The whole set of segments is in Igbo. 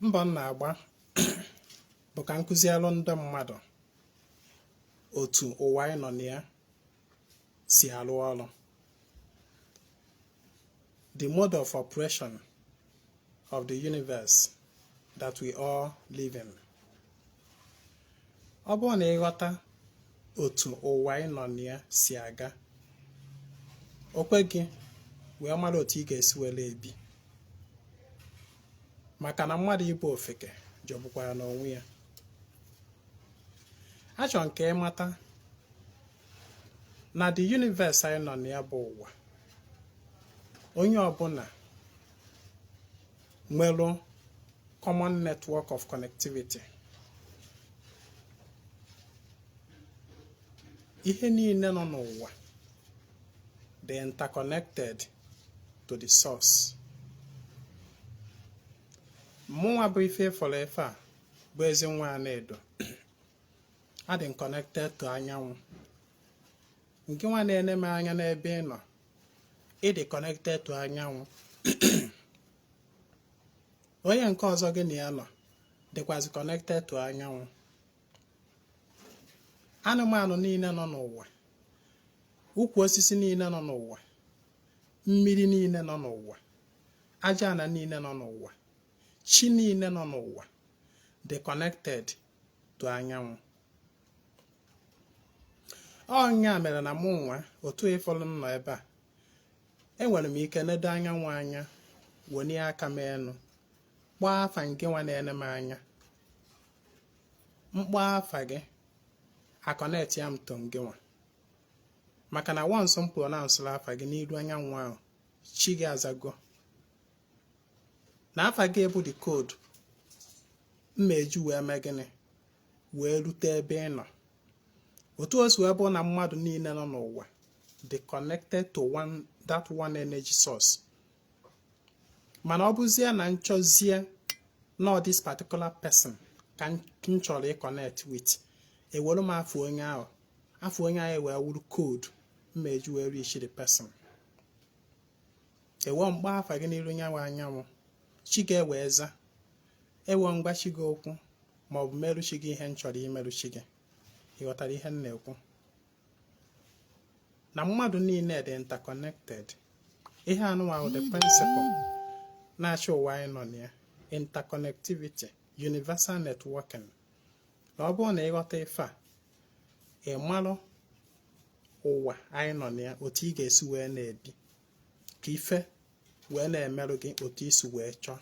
mbọ m na-agba bụ ka m kụzialụ ndị mmadụ otu ụwa anyị nọ na ya si arụ ọrụ the mode of operation of the universe that we all live in. ọ bụrụ na ị ghọta otu ụwa ị nọ na ya si aga o kwe gị wee mara otu ị ga-esi were ebi maka na mmadụ ịbụ ofeke jọgbukwara n'onwe ya achọ m ka ị mata na the universe anyị nọ na ya bụ ụwa onye ọbụla nwere common network of connectivity ihe niile nọ n'ụwa dị interconnected to the source mụnwa bụ ife fọrọ efe a bụ ezi nwa Anaedo adị m connected to anyanwụ ngị nwa na-ene m anya n'ebe ị nọ ị dị connected to anyanwụ onye nke ọzọ gị na ya nọ dịkwazị connected to anyanwụ anụmanụ niile nọ n'ụwa ukwu osisi niile nọ n'ụwa mmiri niile nọ n'ụwa aja ana niile nọ n'ụwa chi niile nọ n'ụwa dị connected to anyanwụ ọ nya mere na mụ nwa otu ị fụlụ m nọ ebe a enwere m ike nedo anyanwụ anya wenie aka m enu kpọọ afa ngị nwa na-ene m anya m kpọọ afa gị a connectia m to gị nwa maka na once m pronouncerụ afa gị n'iru anyanwụ ahụ chi gị azago na afa gị bụ the code m ma-eji wee mee gịnị wee rute ebe ị nọ otu o si wee bụ na mmadụ niile nọ n'ụwa dị connected to that one energy source mana ọ bụzie na m chọzie na this particular person ka m chọrọ ịconnect with ewere m afa onye ahụ afa onye ahụ wee wụrụ code m ma-eji wee reach the person ewee m kpọọ afa gị n'iru nyanwụ anyanwụ chi gị ewee za ewee m gwa chi gị okwu ma ọ bụ merụ chi gị ihe m chọrọ imerụ chi gị ị ghọtara ihe m na-ekwu na mmadụ niile dị interconnected ihe anụnwa bụ the principle na-achị ụwa anyị nọ na ya interconnectivity universal networking na ọ bụrụ na ị ghọta ife a ị marụ ụwa anyị nọ na ya otu ị ga-esi wee na-ebi ka ife wee na-emerụ gị otu ị si wee chọọ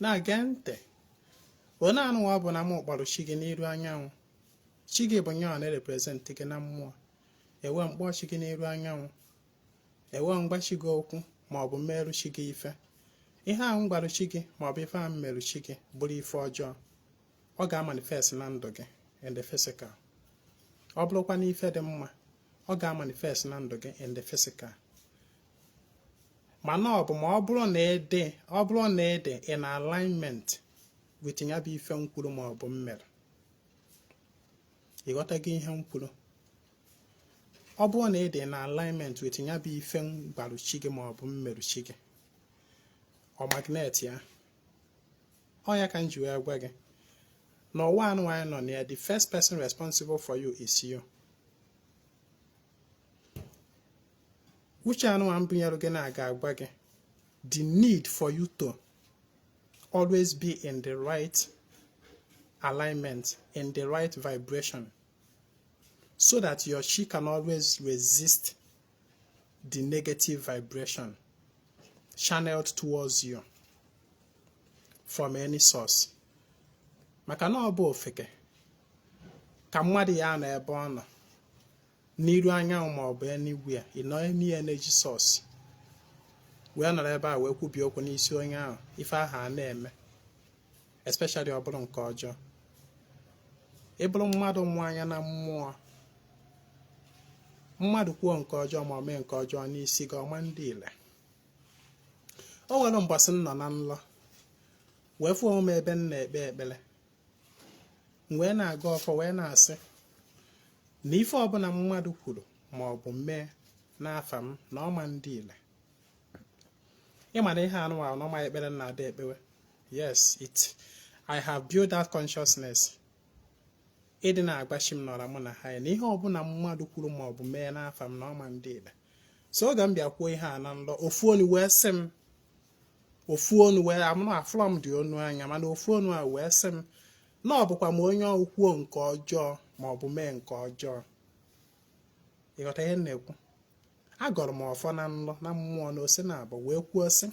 na-ege ntị onye anụwa bụ na m kpọrọ chi gị n'iru anyanwụ chi gị bụ nyawa na-erepresent gị na mmụọ ewee m kpọọ chi gị n'iru anyanwụ ewee m gwa chi gị okwu ma ọ bụ m merụ chi gị ife ihe ahụ m gwarụ chi gị ma ọ bụ ife ahụ m merụ chi gị bụrụ ife ọjọọ ọ ga-amanifest na ndụ gị in the physical ọ bụrụkwa na ife dị mma ọ ga-amanifest na ndụ gị in the physical mana ọ bụ ma ọ bụrụ na ị dị ọ bụrụ na ị dị in alignment with ya bụ ife m kwuru ma ọ bụ m merụ ị ghọtago ihe m kwuru ọ bụrụ na ị dị na alignment with ya bụ ife m gwarụ chi gị ma ọ bụ m merụ chi gị ọ magnet ya ọ ya ka m ji wee gwa gị na ụwa anụwa anyị nọ na ya the first person responsible for you is you uche anụwa m bunyere gị na-aga agwa gị the need for you to always be in the right alignment in the right vibration so that your chi can always resist the negative vibration channeled towards you from any source maka na ọ bụ ofeke ka mmadụ ya-anọ ebe ọ nọ n'iru anyanwụ ma ọ bụ anywhere ị nọ any energy source wee nọrọ ebe a wee kwubie okwu n'isi onye ahụ ife ahụ a na-eme especially ọ bụrụ nke ọjọọ ị bụrụ mmadụ mụ anya na mmụọ mmadụ kwuo nke ọjọọ ma ọ mee nke ọjọọ n'isi gị ọ ma ndị ile o nwere mbọsị m nọ na nlọ wee fụ onwe m ebe m na-ekpe ekpere wee na-agọ ọfọ wee na-asị na ife ọbụla mmadụ kwuru ma ọ bụ mee n'afa m na ọ ma ndị ile ị ma na ihe anụwa n'ọma ekpere na ada ekpewe yes i have built that consciousness ịdị na-agwa chi m na ọra mụ na ha na ihe ọbụla mmadụ kwuru ma ọ bụ mee n'afa m na ọ ma ndị ile so oge m bịa kwuo ihe a na nlọ ofu onu wee sị m ofu onu wee amụrụ afụlọ m dị onu anya mana ofu onu a wee sị m na ọ bụkwa ma onye ọ kwuo nke ọjọọ ma ọ bụ mee nke ọjọọ ị ghọta ihe m na-ekwu agọrọ m ọfọ na nlọ na mmụọ na ose na abụ wee kwuo sị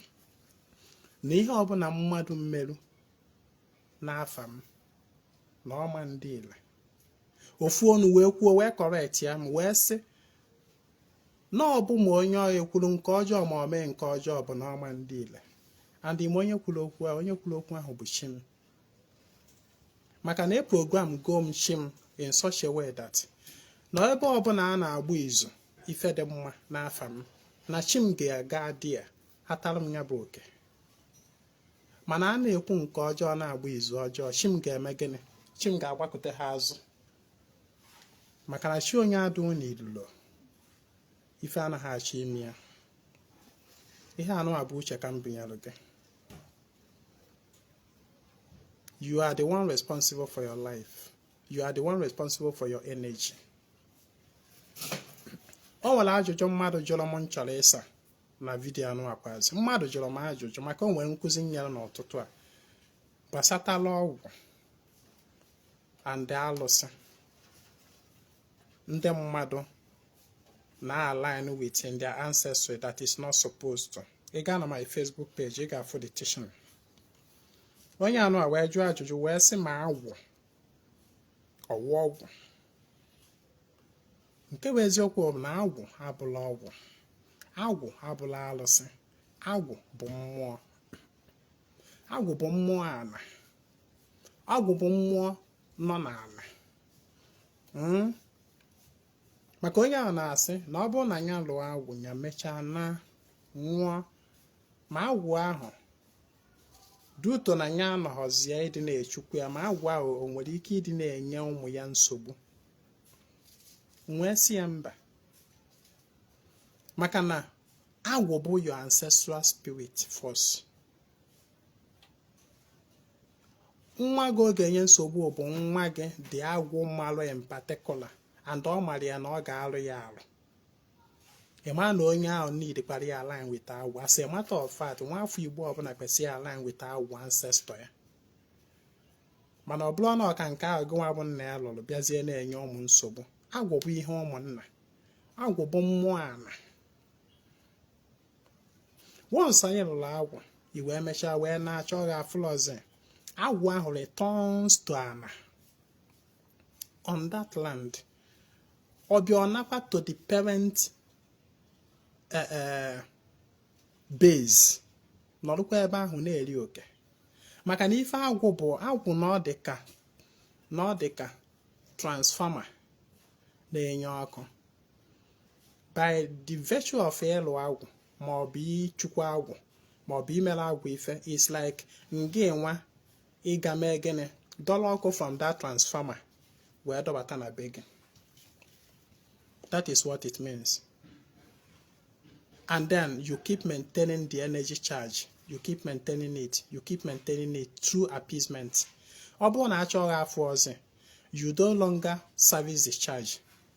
na ihe ọbụla mmadụ mmerụ n'afa m na ọ ma ndị ile ofu onu wee kwuo wee correctịa m wee sị na ọ bụ ma onye ọ ya ekwuru nke ọjọọ ma ọ mee nke ọjọọ bụ na ọ ma ndị ile and ị ma onye kwuru okwu onye kwuru okwu ahụ bụ chi m maka na e program go m chi m in such a way that na ebe ọbụla a na-agba izu ife dị mma n'afa m na chi m ga-aga dị ya hatara m ya bụ oke mana a na-ekwu nke ọjọọ na-agba izu ọjọọ chi m ga-eme gịnị chi m ga-agbakuta ha azụ maka na chi onye adụ na ilulo ife anaghị achọ ime ya ihe anụwa bụ uche ka m binyere gị You are the one responsible for your life. You are the one responsible for your energy. O nwere ajụjụ mmadụ jụrụ m m chọrọ ịsa na vidiyo anụwa kwazi mmadụ jụrụ m ajụjụ maka o nwere nkuzi m nyere n'ụtụtụ a gbasatala ọgwụ and alụsị ndị mmadụ na-align with in their ancestry that is not supposed to ị gaa na my Facebook page ị ga-afụ the teaching onye anụwa wee jụọ ajụjụ wee sị ma agwụ ọ wụ ọgwụ nke bụ eziokwu bụ na agwụ abụla ọgwụ agwụ abụla alụsị agwụ bụ mmụọ agwụ bụ mmụọ ana agwụ bụ mmụọ nọ n'ana hmm? maka onye ahụ na-asị na ọ bụrụ na ya lụọ agwụ ya mechaa na nwụọ ma agwụ ahụ due to na ya anọghọzie ịdị na-echukwu ya ma agwụ ahụ o nwere ike ịdị na-enye ụmụ ya nsogbu m wee sị ya mba maka na agwụ bụ your ancestral spirit force nwa gị ọ ga-enye nsogbu bụ nwa gị dị agwụ malụ in particular and ọ mara ya na ọ ga-alụ ya alụ ị ma na onye ahụ needkwara ya align with agwụ as a matter of fact nwa afọ igbo ọbụla kwesịrị align with agwụ ancestor ya mana ọ bụrụ na ọ ka nke ahụ gị nwa bụ nna ya lụrụ bịazie na-enye ụmụ nsogbu agwụ bụ ihe ụmụnna agwụ bụ mmụọ ana once na ị lụrụ agwụ i wee mechaa wee naa a chọọ gị afụlọzi agwụ ahụ returns to ana on that land ọ bịa ọ nakwa to the parent eh, eh, base nọrụkwa ebe ahụ na-eri oke maka na ife agwụ bụ agwụ na ọ dị ka na ọ dị ka transformer na-enye ọkụ by the virtue of ịlụ agwụ ma ọ bụ ịchụkwa agwụ ma ọ bụ imere agwụ ife is like ngị nwa ịga mee gịnị dọla ọkụ from that transformer wee dọbata na be gị that is what it means and then you keep maintaining the energy charge you keep maintaining it you keep maintaining it through appeasement ọ bụrụ na achọghị afọ ọzọ you no longer service the charge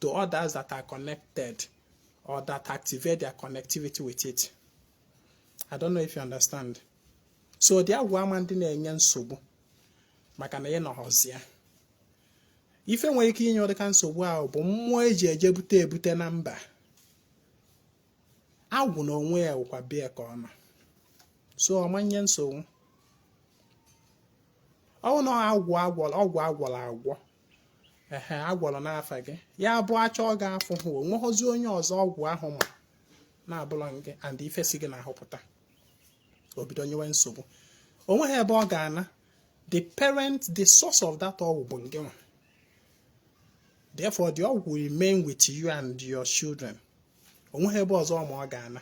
to others that are connected or that activate their connectivity with it. I don't know if you understand. So the agwụ ama ndị na-enye nsogbu maka na ị nọghọzi ya ife nwere ike inye ụdịka nsogbu ahụ bụ mmụọ eji eje bute ebute na mba agwụ na onwe ya wụkwa be ya ka ọ nọ so ọ ma-enye nsogbu ọ wụ na ọgwụ agwọrọ agwọ ehe agwọrọ n'afa gị ya bụ achọọ gị afụhụ onweghọzi onye ọzọ ọgwụ ahụ ma na-abụrọ gị and ife si gị n'ahụ pụta o bido nyewe nsogbu onweghị ebe ọ ga-ana the parent the source of that ọgwụ bụ ngị nwa therefore the ọgwụ will remain with you and your children onweghị ebe ọzọ ma ọ ga-ana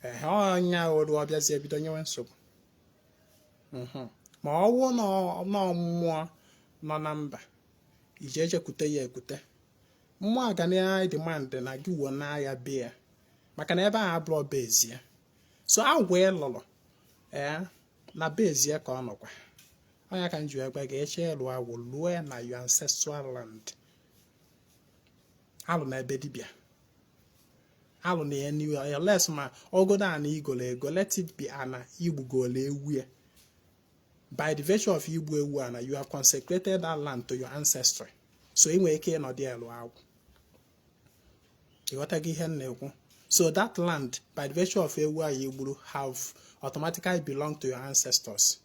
ehe ọnya oru ọ bịazie bido nyewe nsogbu mhm. ma ọ wụ na mmụọ nọ na mba ije eje kute ya ekute mmụọ a ga na-ademand na gị wuna ya be ya maka na ebe ahụ abụrọ bezie so agwụ ị lụrụ ee eh, na bezie ka ọ nọkwa ọ ya ka m ji agwa gị ị chọ ịlụ agwụ lụọ na your ancestral land alụna be dibịa alụna ya anywhere unless ma ọ godo ana i golo ego let it be ana i gbugolo ewu ya by the virtue of igbu ewu ana you have consecrated that land to your ancestry so ị nwere ike ịnọdụ ya lụọ agwụ ịghọtago ihe m na-ekwu so that land by the virtue of ewu ahụ i gburu have automatically belong to your ancestors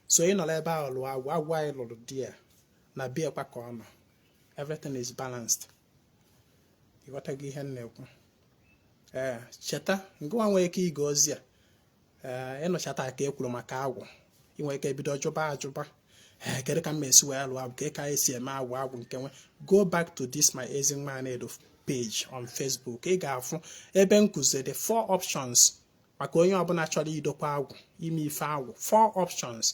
so ị nọrọ ebe ahụ lụọ agwụ agwụ ahụ ị lụrụ dị ya na be ya kwa ka ọ nọ everything is balanced ịghọtago ihe m na-ekwu ee eh, cheta ngịwa nwee ike ige ozi a ee eh, ị nụchata ka e kwuru maka agwụ ị nwee ike bido jụba ajụba ee eh, kedu ka m esi wee lụọ agwụ kee ka esi eme agwụ agwụ nke nwe go back to this my Ezinwa Anaedo page on Facebook ị ga-afụ ebe m kụziri the four options maka onye ọbụla chọrọ idokwa agwụ ime ife agwụ four options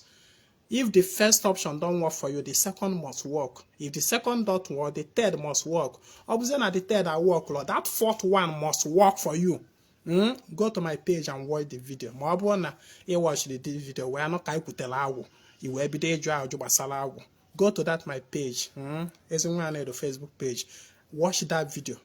If the first option don't work for you, the second must work. If the second don't work, the third must work. Ọ bụzie na the third aworkrọ, that fourth one must work for you. Mm? Go to my page and watch the video. Ma ọ bụrụ na ị watch the video wee nụ ka anyị kwutere agwụ, i wee bido ịjụ ajụ gbasara agwụ. Go to that my page, mm? Ezinwa Anedo Facebook page. Watch that video.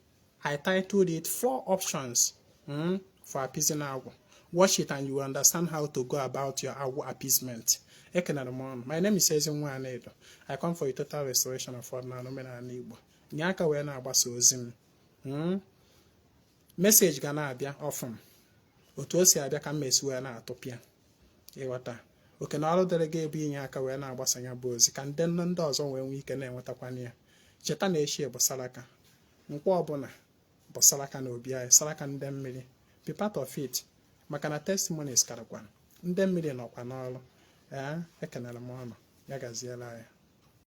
I titled it four options mm, for appeasing agwụ watch it and you will understand how to go about your agwụ appeasement ekenere m ụnụ my name is Ezinwa Anedo I come for a total restoration of ọdịnala omenala Igbo nye aka wee na-agbasa ozi m hmm? message ga na-abịa often otu o si abịa ka m esi wee na-atụpịa ịghọta oke na ọrụ dịrị gị ebe inye aka wee na-agbasa ya bụ ozi ka ndị nne ndị ọzọ wee nwee ike na-enwetakwana ya cheta na echi bụ saraka Nkwọ ọbụla bụ saraka na obi anyị saraka ndị mmiri be part of it maka na testimonies karịkwa ndị mmiri nọkwa n'ọrụ ee ekenere m ụnụ ya gaziela ya